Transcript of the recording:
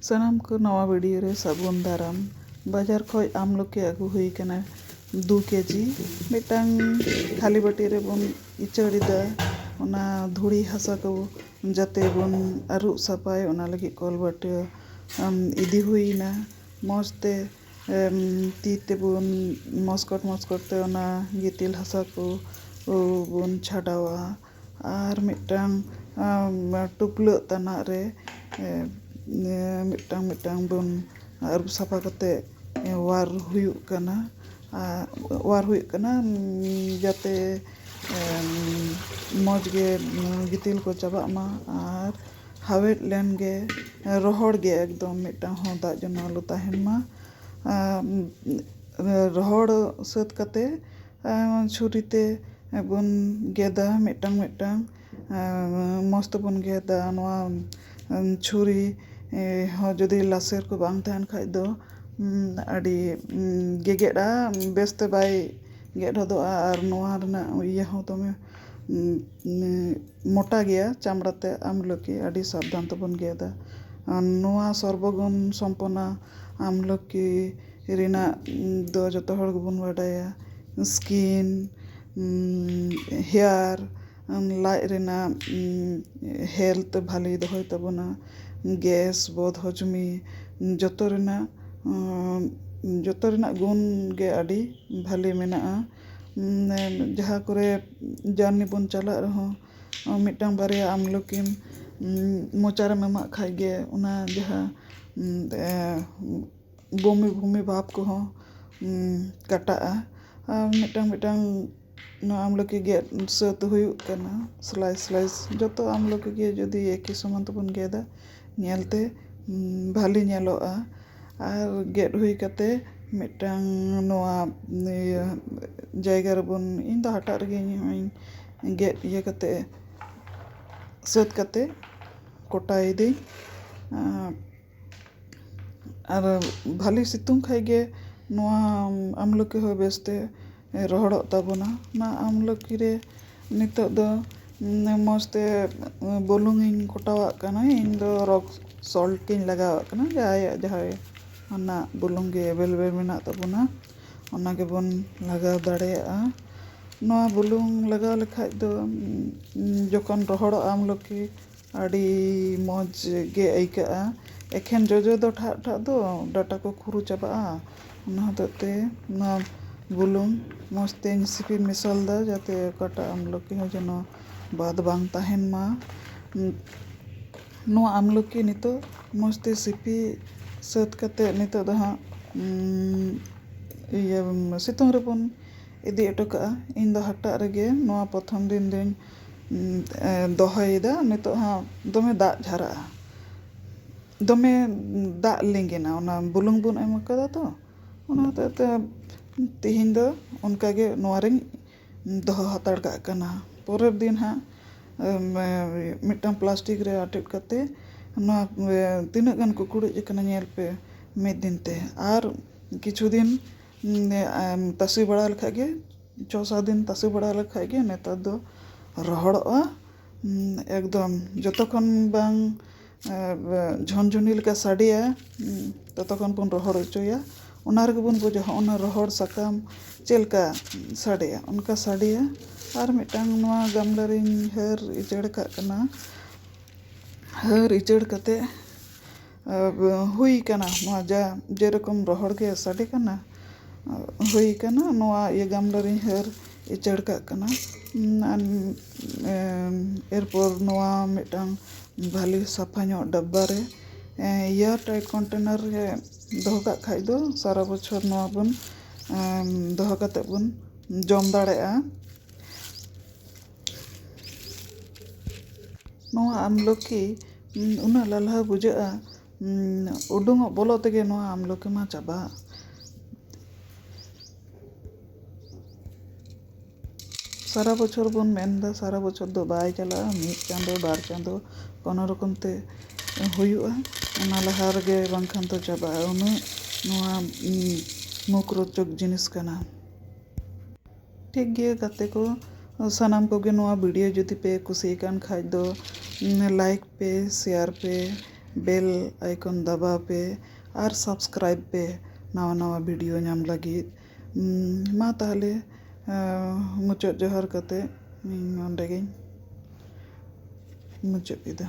ᱥᱟᱱᱟᱢ ᱠᱚ ᱱᱟᱣᱟ ᱵᱷᱤᱰᱤᱭᱳ ᱨᱮ ᱥᱟᱹᱜᱩᱱ ᱫᱟᱨᱟᱢ᱾ ᱵᱟᱡᱟᱨ ᱠᱷᱚᱡ ᱟᱢᱞᱚᱠᱤ ᱟᱹᱜᱩ ᱦᱩᱭ ᱟᱠᱟᱱᱟ ᱫᱩ ᱠᱮᱡᱤ᱾ ᱢᱤᱫᱴᱟᱝ ᱠᱷᱟᱹᱞᱤ ᱵᱟᱹᱴᱤ ᱨᱮ ᱵᱚᱱ ᱤᱪᱟᱹᱲ ᱮᱫᱟ᱾ ᱚᱱᱟ ᱫᱷᱩᱲᱤ ᱦᱟᱥᱟ ᱠᱚ ᱡᱟᱛᱮ ᱵᱚᱱ ᱟᱹᱨᱩᱵ ᱥᱟᱯᱷᱟᱭ ᱚᱱᱟ ᱞᱟᱹᱜᱤᱫ ᱠᱚᱞ ᱵᱟᱹᱴᱤ ᱤᱫᱤ ᱦᱩᱭ ᱮᱱᱟ᱾ ᱢᱚᱡᱽ ᱛᱮ ᱛᱤ ᱛᱮ ᱵᱚᱱ ᱢᱚᱥᱠᱚᱴ ᱢᱚᱥᱠᱚᱴ ᱛᱮ ᱚᱱᱟ ᱜᱤᱛᱤᱞ ᱦᱟᱥᱟ ᱠᱚ ᱵᱚᱱ ᱪᱷᱟᱰᱟᱣᱟ᱾ ᱟᱨ ᱢᱤᱫᱴᱟᱝ ᱴᱩᱯᱞᱟᱹᱜ ᱛᱟᱱᱟᱜ ᱨᱮ ᱢᱤᱫᱴᱟᱝ ᱢᱤᱫᱴᱟᱝ ᱵᱚᱱ ᱟᱹᱨᱩᱵ ᱥᱟᱯᱷᱟ ᱠᱟᱛᱮ ᱚᱣᱟᱨ ᱦᱩᱭᱩᱜ ᱠᱟᱱᱟ ᱟᱨ ᱚᱣᱟᱨ ᱦᱩᱭᱩᱜ ᱠᱟᱱᱟ ᱡᱟᱛᱮ ᱢᱚᱡᱽ ᱜᱮ ᱜᱤᱛᱤᱞ ᱠᱚ ᱪᱟᱵᱟᱜ ᱢᱟ ᱟᱨ ᱦᱟᱣᱮᱫ ᱞᱮᱱ ᱜᱮ ᱨᱚᱦᱚᱲ ᱜᱮ ᱮᱠᱫᱚᱢ ᱢᱤᱫᱴᱟᱝ ᱦᱚᱸ ᱫᱟᱜ ᱡᱮᱱᱚ ᱟᱞᱚ ᱛᱟᱦᱮᱱ ᱢᱟ ᱨᱚᱦᱚᱲ ᱥᱟᱹᱛ ᱠᱟᱛᱮ ᱪᱷᱩᱨᱤ ᱛᱮᱵᱚᱱ ᱜᱮᱫᱟ ᱢᱤᱫᱴᱟᱝ ᱢᱤᱫᱴᱟᱝ ᱢᱚᱡᱽ ᱛᱮᱵᱚᱱ ᱜᱮᱫᱟ ᱱᱚᱣᱟ ᱪᱷᱩᱨᱤ ᱦᱚᱸ ᱡᱩᱫᱤ ᱞᱟᱥᱮᱨ ᱠᱚ ᱵᱟᱝ ᱛᱟᱦᱮᱱ ᱠᱷᱟᱡ ᱫᱚ ᱟᱹᱰᱤ ᱜᱮᱜᱮᱫᱼᱟ ᱵᱮᱥᱛᱮ ᱵᱟᱭ ᱜᱮᱫ ᱦᱚᱫᱚᱜᱼᱟ ᱟᱨ ᱱᱚᱣᱟ ᱨᱮᱱᱟᱜ ᱤᱭᱟᱹ ᱦᱚᱸ ᱫᱚᱢᱮ ᱢᱚᱴᱟ ᱜᱮᱭᱟ ᱪᱟᱢᱲᱟ ᱛᱮ ᱟᱢᱞᱚᱠᱤ ᱟᱹᱰᱤ ᱥᱟᱵᱫᱷᱟᱱ ᱛᱮᱵᱚᱱ ᱜᱮᱫᱟ ᱟᱨ ᱱᱚᱣᱟ ᱥᱚᱨᱵᱚᱜᱩᱱ ᱥᱚᱢᱯᱚᱱᱱᱟ ᱟᱢᱞᱚᱠᱤ ᱨᱮᱱᱟᱜ ᱫᱚ ᱡᱚᱛᱚ ᱦᱚᱲ ᱜᱮᱵᱚᱱ ᱵᱟᱰᱟᱭᱟ ᱥᱠᱤᱱ ᱦᱮᱭᱟᱨ ᱞᱟᱡ ᱨᱮᱱᱟᱜ ᱦᱮᱞᱛᱷ ᱵᱷᱟᱞᱮ ᱫᱚᱦᱚᱭ ᱛᱟᱵᱚᱱᱟ ᱜᱮᱥ ᱵᱚᱫ ᱦᱚᱡᱽᱢᱤ ᱡᱚᱛᱚ ᱨᱮᱱᱟᱜ ᱡᱚᱛᱚ ᱨᱮᱱᱟᱜ ᱜᱩᱱ ᱜᱮ ᱟᱹᱰᱤ ᱵᱷᱟᱞᱮ ᱢᱮᱱᱟᱜᱼᱟ ᱡᱟᱦᱟᱸ ᱠᱚᱨᱮ ᱡᱟᱨᱱᱤ ᱵᱚᱱ ᱪᱟᱞᱟᱜ ᱨᱮᱦᱚᱸ ᱢᱤᱫᱴᱟᱝ ᱵᱟᱨᱭᱟ ᱟᱢᱞᱚᱠᱤᱢ ᱢᱚᱪᱟᱨᱮᱢ ᱮᱢᱟᱜ ᱠᱷᱟᱡ ᱜᱮ ᱚᱱᱟ ᱡᱟᱦᱟᱸ ᱵᱚᱢᱤ ᱵᱚᱢᱤ ᱵᱷᱟᱵᱽ ᱠᱚᱦᱚᱸ ᱠᱟᱴᱟᱜᱼᱟ ᱟᱨ ᱢᱤᱫᱴᱟᱝ ᱢᱤᱫᱴᱟᱝ ᱱᱚᱣᱟ ᱟᱢᱞᱚᱠᱤ ᱜᱮᱫ ᱥᱟᱹᱛ ᱦᱩᱭᱩᱜ ᱠᱟᱱᱟ ᱥᱞᱟᱭᱤᱥ ᱥᱞᱟᱭᱤᱥ ᱡᱚᱛᱚ ᱟᱢᱞᱚᱠᱤ ᱜᱮ ᱡᱩᱫᱤ ᱮᱠᱤ ᱥᱚᱢᱟᱱ ᱛᱮᱵᱚᱱ ᱜᱮᱫᱟ ᱧᱮᱞᱛᱮ ᱵᱷᱟᱞᱮ ᱧᱮᱞᱚᱜᱼᱟ ᱟᱨ ᱜᱮᱫ ᱦᱩᱭ ᱠᱟᱛᱮ ᱢᱤᱫᱴᱟᱝ ᱱᱚᱣᱟ ᱤᱭᱟᱹ ᱡᱟᱭᱜᱟ ᱨᱮᱵᱚᱱ ᱤᱧ ᱫᱚ ᱦᱟᱴᱟᱜ ᱨᱮᱜᱮ ᱤᱧ ᱦᱚᱸᱧ ᱜᱮᱫ ᱤᱭᱟᱹ ᱠᱟᱛᱮ ᱥᱟᱹᱛ ᱠᱟᱛᱮ ᱠᱚᱴᱟᱭᱤᱫᱟᱹᱧ ᱟᱨ ᱵᱷᱟᱞᱮ ᱥᱤᱛᱩᱝ ᱠᱷᱟᱡ ᱜᱮ ᱱᱚᱣᱟ ᱟᱢᱞᱚᱠᱤ ᱦᱚᱸ ᱵᱮᱥᱛᱮ ᱨᱚᱦᱚᱲᱚᱜ ᱛᱟᱵᱚᱱᱟ ᱚᱱᱟ ᱟᱢᱞᱚᱠᱤ ᱨᱮ ᱱᱤᱛᱳᱜ ᱫᱚ ᱢᱚᱡᱽ ᱛᱮ ᱵᱩᱞᱩᱝ ᱤᱧ ᱠᱚᱴᱟᱣᱟᱜ ᱠᱟᱱᱟ ᱤᱧ ᱫᱚ ᱨᱚᱠ ᱥᱚᱞᱴ ᱤᱧ ᱞᱟᱜᱟᱣᱟᱜ ᱠᱟᱱᱟ ᱡᱟᱦᱟᱸᱭᱟᱜ ᱡᱟᱦᱟᱸ ᱚᱱᱟ ᱵᱩᱞᱩᱝ ᱜᱮ ᱮᱵᱮᱞᱮᱵᱮᱞ ᱢᱮᱱᱟᱜ ᱛᱟᱵᱚᱱᱟ ᱚᱱᱟ ᱜᱮᱵᱚᱱ ᱞᱟᱜᱟᱣ ᱫᱟᱲᱮᱭᱟᱜᱼᱟ ᱱᱚᱣᱟ ᱵᱩᱞᱩᱝ ᱞᱟᱜᱟᱣ ᱞᱮᱠᱷᱟᱡ ᱫᱚ ᱡᱚᱠᱷᱚᱱ ᱨᱚᱦᱚᱲᱚᱜᱼᱟ ᱟᱢᱞᱚᱠᱤ ᱟᱹᱰᱤ ᱢᱚᱡᱽ ᱜᱮ ᱟᱹᱭᱠᱟᱹᱜᱼᱟ ᱮᱠᱷᱮᱱ ᱡᱚᱡᱚ ᱫᱚ ᱴᱷᱟᱜ ᱴᱷᱟᱜ ᱫᱚ ᱰᱟᱴᱟ ᱠᱚ ᱠᱷᱩᱨᱩ ᱪᱟᱵᱟᱜᱼᱟ ᱚᱱᱟ ᱦᱚᱛᱮᱡ ᱛᱮ ᱚᱱᱟ ᱵᱩᱞᱩᱝ ᱢᱚᱡᱽ ᱛᱮᱧ ᱥᱤᱯᱤ ᱢᱮᱥᱟᱞᱮᱫᱟ ᱡᱟᱛᱮ ᱚᱠᱟᱴᱟᱜ ᱟᱢᱞᱚᱠᱤ ᱦᱚᱸ ᱡᱮᱱᱚ ᱵᱟᱫᱽ ᱵᱟᱝ ᱛᱟᱦᱮᱱ ᱢᱟ ᱱᱚᱣᱟ ᱟᱢᱞᱚᱠᱤ ᱱᱤᱛᱚᱜ ᱢᱚᱡᱽ ᱛᱮ ᱥᱤᱯᱤ ᱥᱟᱹᱛ ᱠᱟᱛᱮ ᱱᱤᱛᱚᱜ ᱫᱚ ᱦᱟᱸᱜ ᱤᱭᱟᱹ ᱥᱤᱛᱩᱝ ᱨᱮᱵᱚᱱ ᱤᱫᱤ ᱦᱚᱴᱚ ᱠᱟᱜᱼᱟ ᱤᱧ ᱫᱚ ᱦᱟᱴᱟᱜ ᱨᱮᱜᱮ ᱱᱚᱣᱟ ᱯᱨᱚᱛᱷᱚᱢ ᱫᱤᱱ ᱫᱚᱧ ᱫᱚᱦᱚᱭᱮᱫᱟ ᱱᱤᱛᱚᱜ ᱦᱚᱸ ᱫᱚᱢᱮ ᱫᱟᱜ ᱡᱷᱟᱨᱟᱜᱼᱟ ᱫᱚᱢᱮ ᱫᱟᱜ ᱞᱤᱸᱜᱤᱱᱟ ᱚᱱᱟ ᱵᱩᱞᱩᱝ ᱵᱚᱱ ᱮᱢ ᱠᱟᱫᱟ ᱛᱚ ᱚᱱᱟ ᱦᱚᱛᱮᱡ ᱛᱮ ᱛᱮᱦᱮᱧ ᱫᱚ ᱚᱱᱠᱟ ᱜᱮ ᱱᱚᱣᱟ ᱨᱤᱧ ᱫᱚᱦᱚ ᱦᱟᱛᱟᱲ ᱠᱟᱜ ᱠᱟᱱᱟ ᱯᱚᱨᱮᱨ ᱫᱤᱱ ᱦᱟᱸᱜ ᱢᱤᱫᱴᱟᱝ ᱯᱞᱟᱥᱴᱤᱠ ᱨᱮ ᱟᱴᱮᱫ ᱠᱟᱛᱮ ᱱᱚᱣᱟ ᱛᱤᱱᱟᱹᱜ ᱜᱟᱱ ᱠᱩᱠᱲᱩᱡ ᱠᱟᱱᱟ ᱧᱮᱞ ᱯᱮ ᱢᱤᱫ ᱫᱤᱱ ᱛᱮ ᱟᱨ ᱠᱤᱪᱷᱩ ᱫᱤᱱ ᱛᱟᱥᱮ ᱵᱟᱲᱟ ᱞᱮᱠᱷᱟᱡ ᱜᱮ ᱪᱷᱚ ᱥᱟᱛ ᱫᱤᱱ ᱛᱟᱥᱮ ᱵᱟᱲᱟ ᱞᱮᱠᱷᱟᱱ ᱜᱮ ᱱᱮᱛᱟᱨ ᱫᱚ ᱨᱚᱦᱚᱲᱚᱜᱼᱟ ᱮᱠᱫᱚᱢ ᱡᱚᱛᱚ ᱠᱷᱚᱱ ᱵᱟᱝ ᱡᱷᱚᱱᱡᱷᱚᱱᱤ ᱞᱮᱠᱟ ᱥᱟᱰᱮᱭᱟ ᱛᱚᱛᱚ ᱠᱷᱚᱱ ᱵᱚᱱ ᱨᱚᱦᱚᱲ ᱦᱚᱪᱚᱭᱟ ᱚᱱᱟ ᱨᱮᱜᱮ ᱵᱚᱱ ᱵᱩᱡᱟ ᱦᱚᱸᱜᱼᱚ ᱱᱟ ᱨᱚᱦᱚᱲ ᱥᱟᱠᱟᱢ ᱪᱮᱫ ᱞᱮᱠᱟ ᱥᱟᱰᱮᱭᱟ ᱚᱱᱠᱟ ᱥᱟᱰᱮᱭᱟ ᱟᱨ ᱢᱤᱫᱴᱟᱝ ᱱᱚᱣᱟ ᱜᱟᱢᱞᱟ ᱨᱤᱧ ᱦᱟᱹᱨ ᱩᱡᱟᱹᱲ ᱠᱟᱜ ᱠᱟᱱᱟ ᱦᱟᱹᱨ ᱩᱡᱟᱹᱲ ᱠᱟᱛᱮᱫ ᱦᱩᱭ ᱠᱟᱱᱟ ᱱᱚᱣᱟ ᱡᱟ ᱡᱮᱨᱚᱠᱚᱢ ᱨᱚᱦᱚᱲ ᱜᱮ ᱥᱟᱰᱮ ᱠᱟᱱᱟ ᱦᱩᱭ ᱠᱟᱱᱟ ᱱᱚᱣᱟ ᱤᱭᱟᱹ ᱜᱟᱢᱞᱟ ᱨᱤᱧ ᱦᱟᱹᱨ ᱩᱪᱟᱹᱲ ᱠᱟᱜ ᱠᱟᱱᱟ ᱮᱨᱯᱚᱨ ᱱᱚᱣᱟ ᱢᱤᱫᱴᱟᱝ ᱵᱷᱟᱞᱮ ᱥᱟᱯᱷᱟ ᱧᱚᱜ ᱰᱟᱵᱵᱟ ᱨᱮ ᱮᱭᱟᱨ ᱴᱟᱭᱤᱴ ᱠᱚᱱᱴᱮᱱᱟᱨ ᱨᱮ ᱫᱚᱦᱚ ᱠᱟᱜ ᱠᱷᱟᱡ ᱫᱚ ᱥᱟᱨᱟ ᱵᱚᱪᱷᱚᱨ ᱱᱚᱣᱟ ᱵᱚᱱ ᱫᱚᱦᱚ ᱠᱟᱛᱮ ᱵᱚᱱ ᱡᱚᱢ ᱫᱟᱲᱮᱭᱟᱜᱼᱟ ᱱᱚᱣᱟ ᱟᱢᱞᱚᱠᱤ ᱩᱱᱟᱹᱜ ᱞᱟᱞᱦᱟᱣ ᱵᱩᱡᱷᱟᱹᱜᱼᱟ ᱩᱰᱩᱝᱚᱜ ᱵᱚᱞᱚᱜ ᱛᱮᱜᱮ ᱱᱚᱣᱟ ᱟᱢᱞᱚᱠᱤ ᱢᱟ ᱪᱟᱵᱟᱜ ᱥᱟᱨᱟ ᱵᱚᱪᱷᱚᱨ ᱵᱚᱱ ᱢᱮᱱᱫᱟ ᱥᱟᱨᱟ ᱵᱚᱪᱷᱚᱨ ᱫᱚ ᱵᱟᱭ ᱪᱟᱞᱟᱜᱼᱟ ᱢᱤᱫ ᱪᱟᱸᱫᱚ ᱵᱟᱨ ᱪᱟᱸᱫᱚ ᱠᱳᱱᱳ ᱨᱚᱠᱚᱢ ᱛᱮ ᱦᱩᱭᱩᱜᱼᱟ ᱚᱱᱟ ᱞᱟᱦᱟ ᱨᱮᱜᱮ ᱵᱟᱝᱠᱷᱟᱱ ᱫᱚ ᱪᱟᱵᱟᱜᱼᱟ ᱩᱱᱟᱹᱜ ᱱᱚᱣᱟ ᱢᱩᱠᱨᱚᱪᱚᱠ ᱡᱤᱱᱤᱥ ᱠᱟᱱᱟ ᱴᱷᱤᱠ ᱜᱮᱭᱟ ᱜᱟᱛᱮ ᱠᱚ ᱥᱟᱱᱟᱢ ᱠᱚᱜᱮ ᱱᱚᱣᱟ ᱵᱷᱤᱰᱤᱭᱳ ᱡᱩᱫᱤ ᱯᱮ ᱠᱩᱥᱤ ᱟᱠᱟᱱ ᱠᱷᱟᱱ ᱫᱚ ᱞᱟᱭᱤᱠ ᱯᱮ ᱥᱮᱭᱟᱨ ᱯᱮ ᱵᱮᱞ ᱟᱭᱠᱚᱱ ᱫᱟᱵᱟᱣ ᱯᱮ ᱟᱨ ᱥᱟᱵᱥᱠᱨᱟᱭᱤᱵᱽ ᱯᱮ ᱱᱟᱣᱟ ᱱᱟᱣᱟ ᱵᱷᱤᱰᱤᱭᱳ ᱧᱟᱢ ᱞᱟᱹᱜᱤᱫ ᱢᱟ ᱛᱟᱦᱚᱞᱮ ᱢᱩᱪᱟᱹᱫ ᱡᱚᱦᱟᱨ ᱠᱟᱛᱮ ᱤᱧ ᱱᱚᱰᱮ ᱜᱮᱧ ᱢᱩᱪᱟᱹᱫ ᱮᱫᱟ